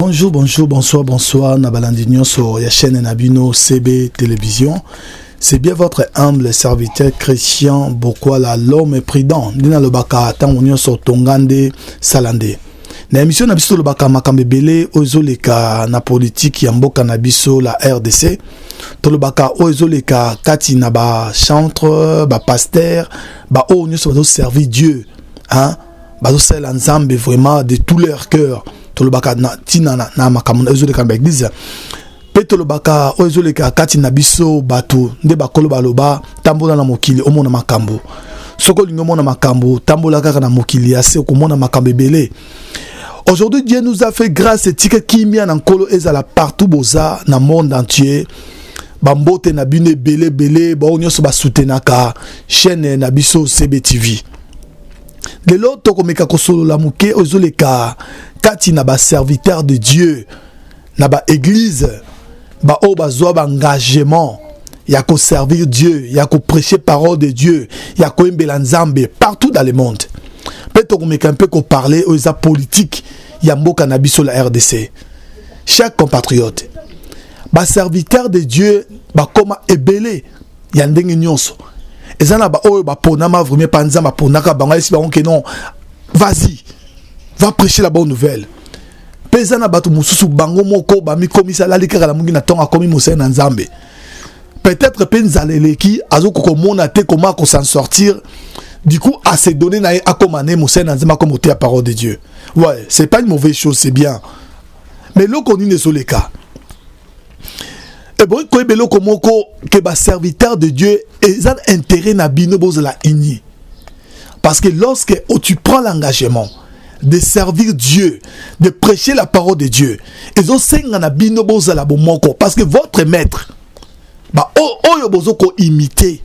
Bonjour, bonjour, bonsoir, bonsoir na balandi nyonso ya chaîne na bino CB Télévision. C'est bien votre humble serviteur Christian Bokwala l'homme prudent. Ndina lobaka tango nyonso tongande salande. Na émission na biso lobaka makambo ebele oyo ezoleka na politique ya mboka na biso la RDC. Tolobaka oyo ezoleka kati na ba chantre, ba pasteur, ba oyo nyonso bazo servir Dieu. Hein? bazosalela nzambe vraiment de tout leur cœur tolobaka na ntina na, na makambo ezoleka na baeglize mpe tolobaka oyo ezoleka kati na biso bato nde bakolo baloba tambola na mokili omona makambo soki olingi omona makambo tambola kaka na mokili ya se okomona makambo ebele aujourd'hui dieu nous a fait grâce etika kimia na nkolo ezala partout boza na monde entier bambote na bino ebele ebele baoyo nyonso basutenaka chaîne na biso cbtv lelo tokomeka kosolola moke oyo ezoleka kati na baserviteur de dieu na baeglize baoyo bazwa baengagement ya koservir dieu ya kopreche parole de dieu ya koyembela nzambe partout dans le monde mpe tokomeka mpe koparle oyo eza politike ya mboka na biso la rdc chaque compatriote baserviteur de dieu bakoma ebele ya ndenge nyonso eza na baoyo baponama vraimen mpa nzambe aponaka bango ayesi bango ke non vas-y va prêcher la bonne nouvelle mpe eza na bato mosusu bango moko bamikomisa alali kaka na mongi na ntongo akomi mosali na nzambe peut-être mpe nzala eleki azokoka komona te koma akosan sortir du coup à se donner na ye akoma ne mosali na nzambe akoma oteya parole de dieu ouais c'est pas une mauvaise chose c'est bien mais eloko nini ezoleka Et bon, quoi belo komoko que ba serviteur de Dieu et ça intérêt na bino bozala uni. Parce que lorsque oh, tu prends l'engagement de servir Dieu, de prêcher la parole de Dieu, et zo senga na bino bozala bomoko parce que votre maître ba oh, oyo bozo ko imiter,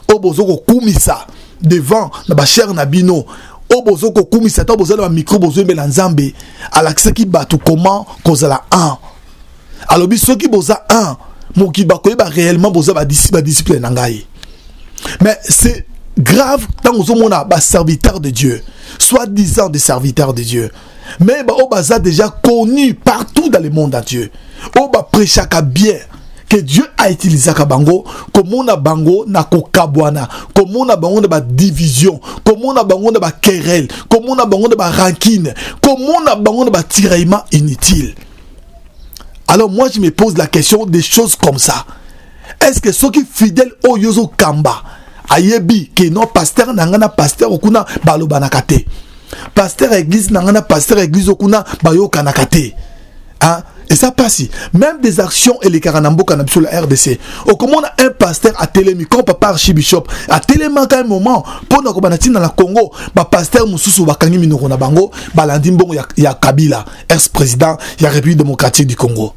oyo bozo ko kumisa devant na ba cher na bino oyo bozo ko kumisa to bozo na micro bozo embela Nzambe alakisaki bato comment kozala un alobi soki boza un mokili bakoyeba réellement boza badisciple na ngai mais c'est grave ntango ozomona baserviteur de dieu soit disant des serviteurs de dieu mais baoyo baza déjà connu partout dans le monde entier oyo baprechaka bien que dieu autilisaka bango komona bango na kokabwana komona bango na badivision komona bango na baquerelle komona bango na barankine komona bango na batiraillement inutile alors moi je me pose la question des choses comme ça est ce que soki fidèle oyo ozo kamba ayebi ke non pasteur na ngai na pasteur okuna balobanaka te pasteur ya église na ngai na pasteur ya église okuna bayokanaka te hein? et ça passe même des actions et les karanamboka na biso la rdc okomona un pasteur atelemi comme papa archibishop atelemaka un moment mpo na kobanda ntina na congo bapasteur mosusu bakangi minoko na bango balandi mbongo ya, ya kabila ex président ya république démocratique du congo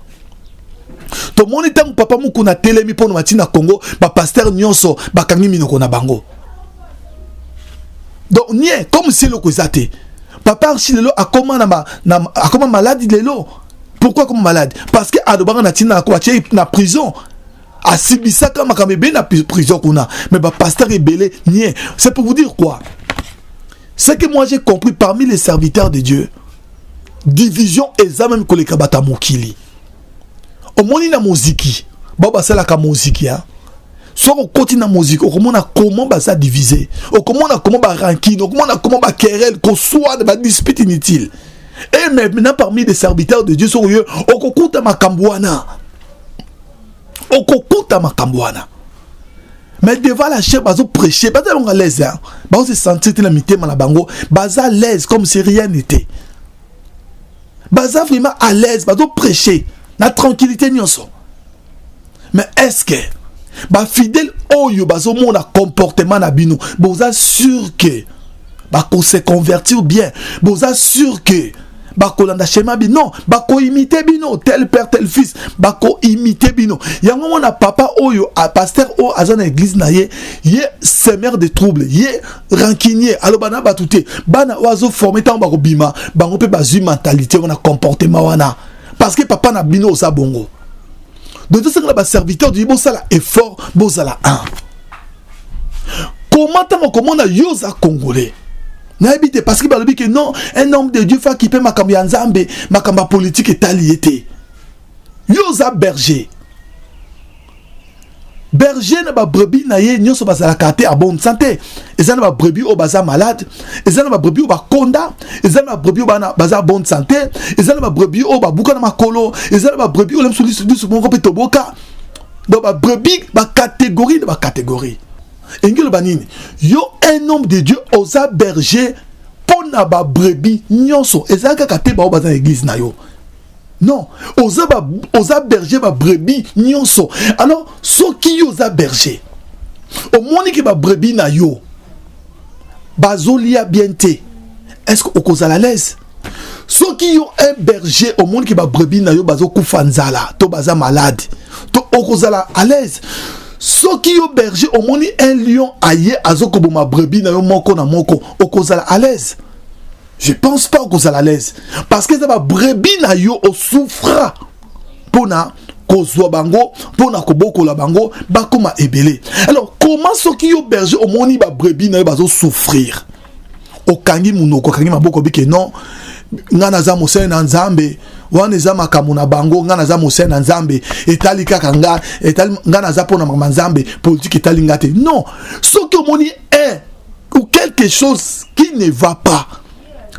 tomoni ntango papa mokuna atelemi mpo na mati na congo bapastere nyonso bakangi minoko na bango donc nie comme si eloko eza te papa archi lelo akoma na, ma, na akoma maladi lelo pourquoi akoma maladi parce que alobaka na ntina na ko atie na prison asibisaka makambo ebele na prison kuna mais bapasteur ebele nie c'est pour vous dire quoi ce que moi j'ai compris parmi les serviteurs de dieu division eza meme koleka bato ya mokili omoni na moziki bao basalaka moziki ya soki okoti na moziki okomona comment baza divise okomona comment barankine okomona comment bakerel koswana badispute inutile e mais na parmi des serviteurs de dieu soki oyo okokuta makambo wana okokuta makambo wana mais devant la chair bazo prêcher baza longa l'aise hein bazo se sentir te na mitema na bango baza l'aise comme si rien n'était baza vraiment à l'aise bazo prêcher na tranquillité nyonso mais est-ce que bafidèle oyo bazomona comportement na bino boza sur que bako se convertir bien boza sûr que bakolanda shema bino non bakoimite bino tel père tel fils bakoimite bino yango mona papa oyo a pasteur oyo aza na église na ye ye semeur de trouble ye rancunier aloba na bato te bana oyo azoforme ntango bakobima bango mpe bazwi mentalité wana comportement wana parce que papa na bino oza bongo donc tosengela baserviteur du bosala effort bozala un comment ntango okomona yo oza congolais nayebi te parce que balobi ke non un homme de dieu fa kipe makambo ya nzambe makambo ya politike etali ye te yo oza berger berger na babrebis na ye nyonso bazalaka te a bonne santé eza na babrebis oyo baza malade eza na babrebis oyo bakonda eza na babrebis oyo baza bonne santé eza na babrebis oyo babuka na makolo eza na babrebis oyo lemso lisu moko mpe toboka donc ba brebis ba catégorie na ba catégorie elingi oloba nini yo un homme de dieu oza berger mpo na ba brebis nyonso ezali kaka te baoyo baza na église na yo non oza, ba, oza berger ba brebis nyonso alors soki yo oza berger omoni ke ba brebis na yo bazolia bien te est ce que okozala l'aise soki yo un berger omoni ke babrebis na yo bazokufa nzala to baza malade to okozala à l'aise soki yo berger omoni un lion aye azokoboma brebis na yo moko na moko okozala à l'aise je pense pas okozala à l'aise parce que eza babrebis na yo osouffra mpo na kozwa bango mpo na kobokola bango bakoma ebele alors comment soki yo berger omoni babrebis na yo bazosouffrir okangi munoko okangi maboko bike non ngai naza mosali na nzambe wana eza makambo na bango ngai naza mosali na nzambe etali kaka ngai etali ngai naza mpo na makambo ya nzambe politike etali ngai te non soki omoni un ou quelque chose qui ne va pas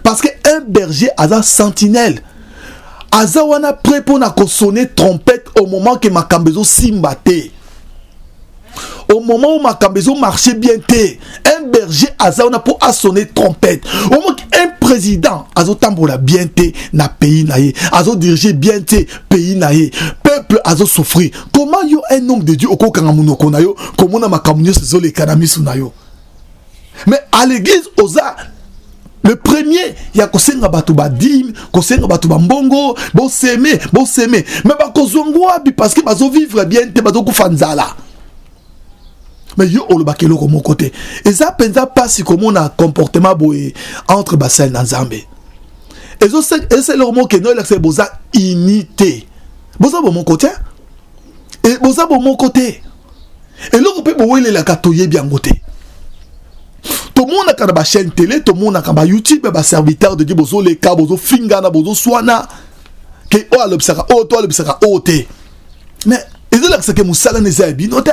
parce que un berger aza sentinelle aza wana prêt mpo na kosone trompette au moment ke makambo ezosimba te au moment où makambo ezo marché bien te un berger aza wana mpo asonne trompette omoki un président azotambola bien te na pays na ye azodirige bien te pays na ye peuple azosouffrir comment yo un homme de dieu okokanga monoko na yo komona makambo nyonso ezoleka na miso na yo mais à l'église oza le premier ya kosenga bato badime kosenga bato bambongo boseme boseme me bakozwa ngo wapi parce que bazovivre bien te bazokufa nzala mais yo olobaka eloko moko te eza mpenza mpasi komona comportement boye entre basali na nzambe ezosala eloko moko kende oyelakisa boza unité boza bomoko te e boza bomoko te eloko mpe bowelelaka toyebi yango te tomonaka na bachaîne tele tomonaka ba youtube ba serviteur de dieu bozoleka bozofingana bozoswana ke oyo alobisaka oyo to alobisaka oyo te mais ezolakisa ke mosala na eza ya bino te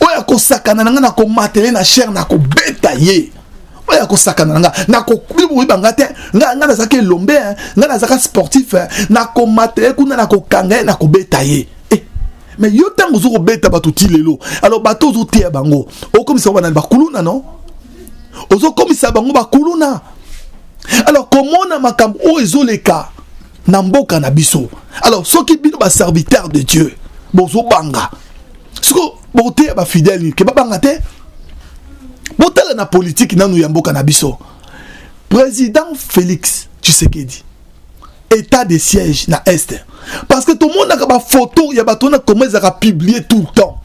oyo akosakana na nga na komatele na chaire na kobeta ye oyo akosakana na nga nakoyeba nga te nga nazalaki elombe eh. nga nazalaka sportif eh. nakomata ye kuna nakokanga ye nakobeta ye eh. mais yo ntango ozo kobeta bato ti lelo alors bato ozoteya bango okomisa banani bakuluna no ozokomisa bango bakuluna alors komona makambo oyo ezoleka na mboka na biso alors soki bino ba serviteur de dieu bozobanga siko boteya bafidèle ke babanga te botala na politiki nanu ya mboka na biso président félix tshisekedi état de siège na est parce que tomonaka bafoto ya bato wana koma ezalaka publie tout le temps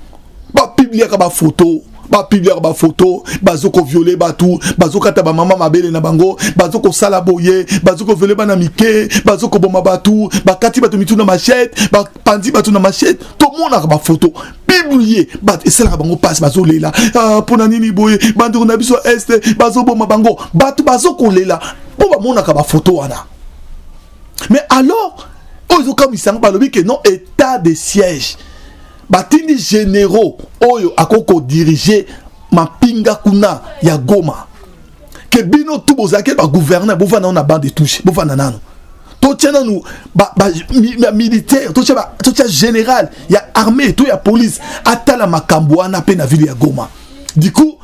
ba publiaka ba photo ba publiaka ba photo bazo ko violer bato bazo kata ba mama mabele na bango bazo ko sala boye bazo ko violer bana mike bazo ko boma bato bakati bato mitu na machette ba panzi bato na machette to monaka ba photo publier bato esalaka bango pasi bazo lela ah, pona nini boye bandeko na biso este bazo boma bango bato bazo ko lela po ba monaka ba photo wana mais alors oyo ezokamwisa yango balobi ke non état de siège batindi généraux oyo akoki kodirige mampinga kuna ya goma ke bino tu bozalaki bagouverneur bovanda nano na bande de touche bovanda nano totya nanu bamilitaire totya général ya armée to ya police atala makambo wana mpe na ville ya goma du coup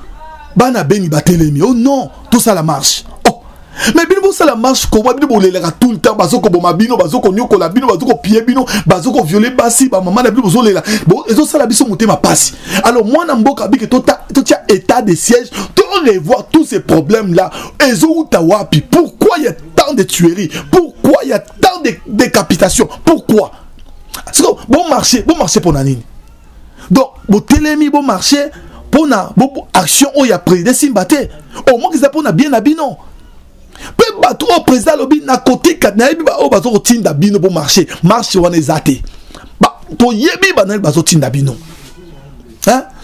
bana beni batelemi oh non tosala marche oh mais bino bosala marche koma bino bolelaka tout le temps bazokoboma bino bazokonyokola bino bazokopiye bino bazokoviole basi bamama na bino bozolela ezosala biso motema pasi alors mwana mboka abike totia état de siège to revoir tous ces problèmes là ezowuta wapi pourquoi il y a tant de tueries pourquoi il y a tant de décapitations pourquoi bon marché bon marché mpo na nini donc botelemi bo marché pona bo action oyo ya président simba te au moins eza pona bien na bino mpe bato oyo président alobi nakotika nayebi baoyo baza kotinda bino mpo marché marché wana eza te toyebi banani bazotinda bino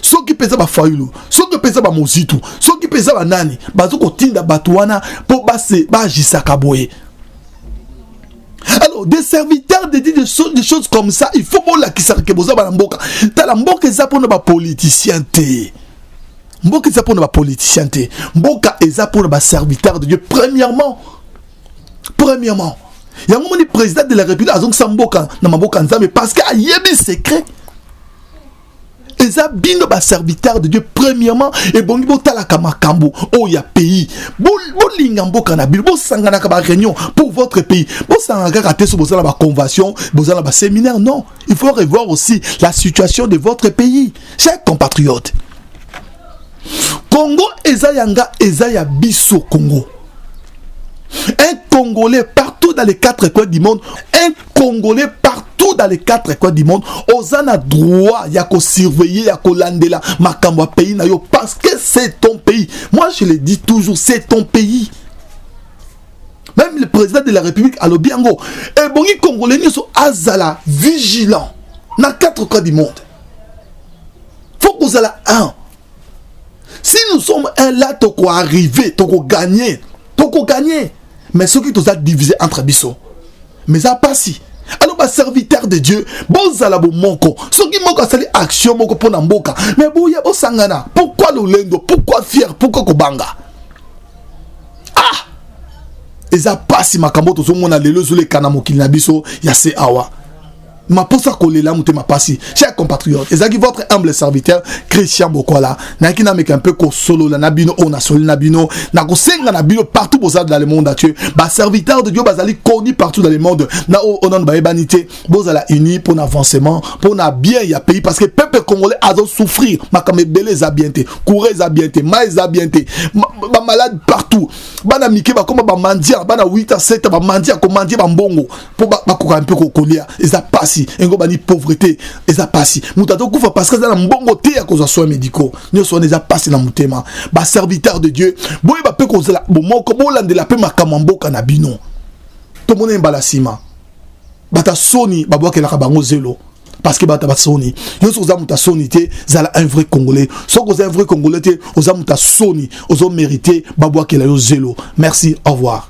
soki mpenza bafayulu soki mpenza bamozitu soki mpenza banani bazokotinda bato wana mpo baajisaka boye alors des serviteurs de dit des, choses, des choses comme ça il faut bolakisaka ke boza bana mboka tala mboka eza mpona bapoliticien te mboka eza mpona bapoliticien te mboka eza mpona baserviteur de dieu premièrement premièrement yango moni président de la république azongisa mboka na maboko ya nzambe parce que ayebi secret eza bino ba serviteur de dieu premièrement ebongi botalaka makambo oyo ya pays bolinga mboka na bino bosanganaka ba réunion pour votre pays bosangana kaka te so boza na baconvention boza na baséminaire non il faut revoir aussi la situation de votre pays chers compatriote congo eza ya nga eza ya biso congo un congolais partout dans les quatre coins du monde un congolais partout dans les quatre coins du monde oza na droit ya kosurveiller ya kolandela makambo ya pays na yo parce que c'est ton pays moi je le dis toujours c'est ton pays même le président de la république alobi yango ebongi congolais nyonso azala vigilant na quatre coins du monde faut kozala un si nous sommes un là tokoarrive tokoganye tokoganye mais soki toza divise entre biso mais eza mpasi alors baserviteur de dieu bozala bomoko soki moko asali action moko mpo na mboka mais boya bosangana pourkui lolendo pourkui fiere pourkui kobanga ah eza mpasi makambo tozomona lelo ezoleka na mokili na biso ya se awa maposa kolela motema pasi cher compatriote ezalaki votre humble serviteur christian bokwala nayaki nameka mpe kosolola na bino oyo nasololi na bino na kosenga na bino partout boza dans le monde atie baserviteur de dieu bazali connu partout dans le monde na oyo onano bayebani te bozala uni mpo na avancement mpo na bien ya pays parce que peuple congolais azosouffrir makambo ebele eza bien te courant eza bien te mai eza bien te bamalade partout bana mike bakoma bamandia bana 8 a 7 bamandia komandia bambongo mpo bakoka mpe kolia eza pasi engobani pauvrete eza pasi moto azokufa parce que aza na mbongo te ya kozwa soin médicaux nyonso wana eza pasi na motema baserviteur de dieu boyeba mpe kozala bomoko bolandela mpe makambo ya mboka na bino tomona ye mbala nsima bata soni babwakelaka bango zelo parce que bata basoni yo soki oza moto asoni te zala un vrai congolais soki oza un vrai congolais te oza moto asoni ozo mérite babwakela yo zelo merci au revoir